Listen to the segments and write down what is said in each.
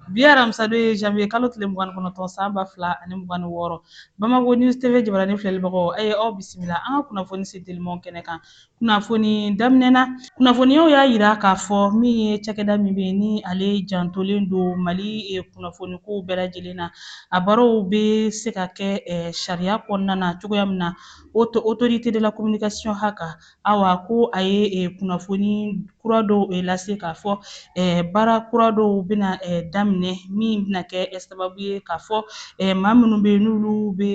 bi aramisa don ye janvier kalo tile mugan ni kɔnɔntɔn san ba fila ani mugan ni wɔɔrɔ bamakɔ news tv jabarani filɛlibagaw a ye aw bisimila an ka kunnafoni sentelimaw kɛnɛ kan kunnafoni daminɛ na kunnafoniyaw y'a yira k'a fɔ min ye cakɛda min bɛ yen ni ale jantolen don mali eh, kunnafonikow bɛɛ lajɛlen na a baaraw bɛ se ka kɛ eh, sariya kɔnɔna na cogoya min na autorité de la communication haka Awa ko a ye eh, kunnafoni kura dɔw eh, lase k'a fɔ eh, baara kura dɔw bɛna daminɛ min bɛna kɛ sababu ye k'a fɔ maa minnu bɛ yen n'olu bɛ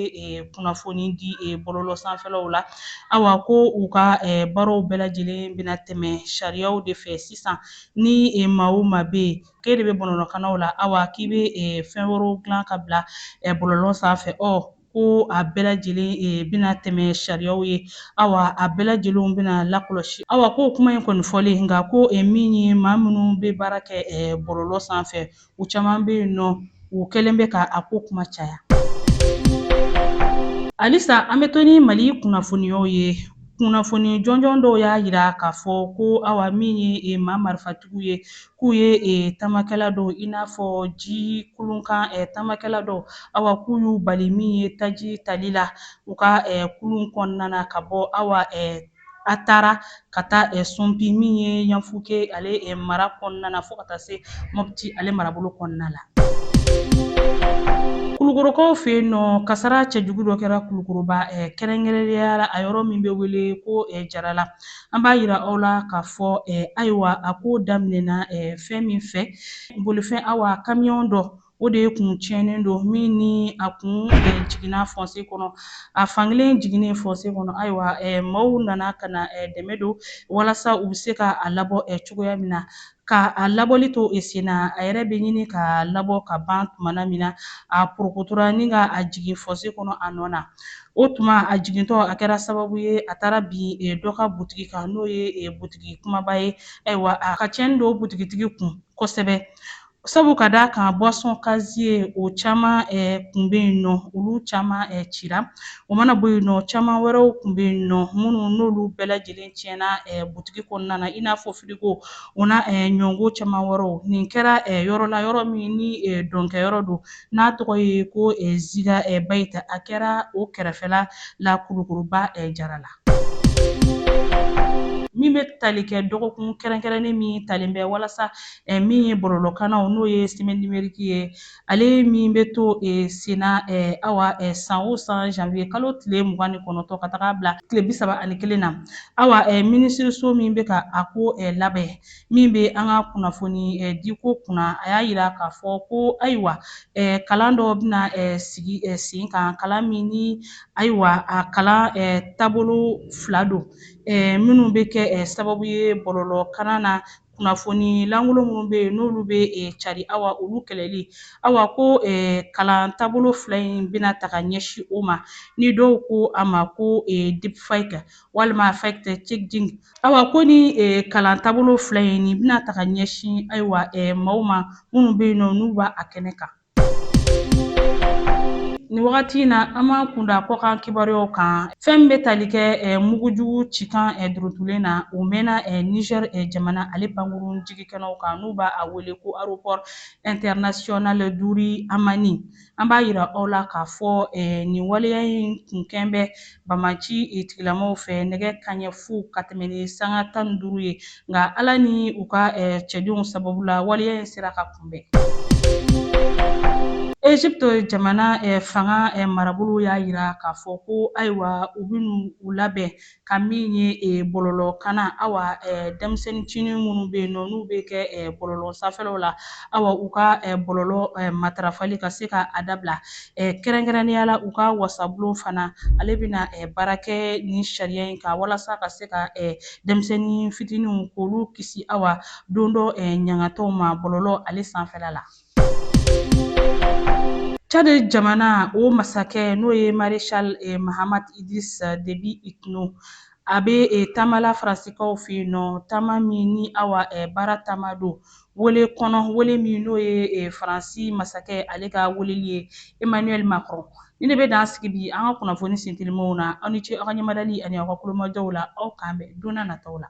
kunnafoni di bɔlɔlɔ sanfɛlaw la awa ko u ka baaraw bɛɛ lajɛlen bɛna tɛmɛ sariyaw de fɛ sisan ni maa o maa bɛ yen k'e de bɛ bɔlɔlɔkannaw la awa k'i bɛ fɛn wɛrɛw dilan ka bila bɔlɔlɔ sanfɛ ɔ ko a bɛɛ lajɛlen e, bɛna tɛmɛ sariyaw ye awa a bɛɛ lajɛlenw bɛna lakɔlɔsi awa ko kuma in kɔni fɔlen nka ko e, min ye maa minnu bɛ baara kɛ e, bɔlɔlɔ sanfɛ u caman bɛ yen nɔ u kɛlen bɛ ka a ko kuma caya halisa an bɛ to ni mali kunnafoniyaw ye kunnafoni jɔnjɔn dɔw y'a yira k'a fɔ ko awa min ye e, maa marifatigiw ye k'u ye e, tamakɛla dɔw i n'a fɔ ji kulunkan e, tamakɛla dɔw awa k'u y'u bali min ye taji tali la u ka e, kulun kɔnɔna na ka bɔ awa e, Atara ka taa e, Sumpi min ye yanfuke ale e, mara kɔnɔna na fo ka taa se mɔpti ale marabolo kɔnɔna la. Kulukorokaw fɛ yen nɔ, kasara cɛjugu dɔ kɛra Kulukoroba kɛrɛnkɛrɛnnenya la a yɔrɔ min bɛ wele ko Jarala. an b'a yira aw la k'a fɔ ayiwa a ko daminɛna fɛn min fɛ bolifɛn awa kamiyɔn dɔ o de ye kun tiɲɛnen don min ni a kun jiginna fɔnse kɔnɔ a fankelen jiginnen fɔnse kɔnɔ ayiwa maaw nana ka na dɛmɛ don walasa u bɛ se ka a labɔ cogoya min na ka a labɔli to e sen na a yɛrɛ bɛ ɲini ka labɔ ka ban tumana min na a porokotora ni ka a jigin fɔse kɔnɔ a nɔ na o tuma a jigintɔ a kɛra sababu ye a taara bin e, dɔ ka butigi kan n'o ye e, butigi kumaba ye ayiwa a ka cɛnni don butigitigi kun kosɛbɛ sabu ka d'a kan boisson casier o caman kun bɛ yen nɔ olu caman cira O mana bɔ yen nɔ caman wɛrɛw kun bɛ yen nɔ minnu n'olu bɛɛ lajɛlen tiɲɛna butigi kɔnɔna na i n'a fɔ firigo o n'a ɲɔgɔn caman wɛrɛw nin kɛra yɔrɔ la yɔrɔ min ni dɔnkɛyɔrɔ don n'a tɔgɔ ye ko ziga bayita a kɛra o kɛrɛfɛla la kulukoroba Jarala min bɛ tali kɛ dɔgɔkun kɛrɛnkɛrɛnnen min talen bɛ walasa min ye bɔlɔlɔkannaw n'o ye semaine numérique ye Ale min bɛ to e, senna e, awa e, san o san janvier kalo tile mugan ni kɔnɔntɔ ka taga bila tile bi saba ani kelen na awa e, minisiriso min bɛ ka a ko e, labɛn min bɛ an ka kunnafoni e, diko kunna a y'a jira k'a fɔ ko ayiwa e, kalan dɔ bɛna e, sigi e, sen kan kalan min ni ayiwa a kalan e, taabolo fila don e, minnu bɛ kɛ e, sababu ye bɔlɔlɔ kanna na kunnafoni lankolon minnu bɛ yen n'olu bɛ cari awa olu kɛlɛli awa ko kalan taabolo fila in bɛna ta ka ɲɛsin o ma ni dɔw ko a ma ko deepfake walima fact checking awa ko ni kalan taabolo fila in nin bɛna ta ka ɲɛsin ayiwa maaw ma minnu bɛ yen nɔ n'u b'a kɛnɛ kan Nin wagati in na an b'an kun da kɔkan kibaruyaw kan fɛn min bɛ tali kɛ mugujugu cikan duurutulen na o mɛnna Niger jamana ale pankurun jigikɛnɛw kan n'u b'a wele ko aéroport international Diori Hamani an b'a jira aw la k'a fɔ nin waleya in kun kɛn bɛ Banbaanci tigilamɔgɔw fɛ nɛgɛ kanɲɛ fu ka tɛmɛ ni sanga tan ni duuru ye nka Ala ni u ka cɛdenw sababu la waleya in sera ka kunbɛn. Egypte jamana fanga marabolo y'a jira k'a fɔ ko ayiwa u bɛna u labɛn ka min ye bɔlɔlɔ kanna awa denmisɛnnincinin minnu bɛ yen nɔ n'u bɛ kɛ bɔlɔlɔ sanfɛlaw la awa u ka bɔlɔlɔ matarafali ka se ka a dabila. kɛrɛnkɛrɛnnenya la u ka wasabulon fana ale bɛna baara kɛ nin sariya in kan walasa ka se ka denmisɛnnin fitininw k'olu kisi awa don dɔ ɲangatɔw ma bɔlɔlɔ ale sanfɛla la. Tchad jamana o masakɛ n'o ye Maréchal Mahamat Idriss Déby Itno a bɛ taama la Faransikaw fɛ yen nɔ taama min ni awa baara taama don wele kɔnɔ wele min n'o ye eh, Faransi masakɛ ale ka weleli ye Emmanuel Macron ni ne bɛ dan sigi bi an ka kunnafoni sentelimanw na aw ni ce aw ka ɲɛmadali ani aw ka kulomajɔw la aw k'an bɛn donna nataw la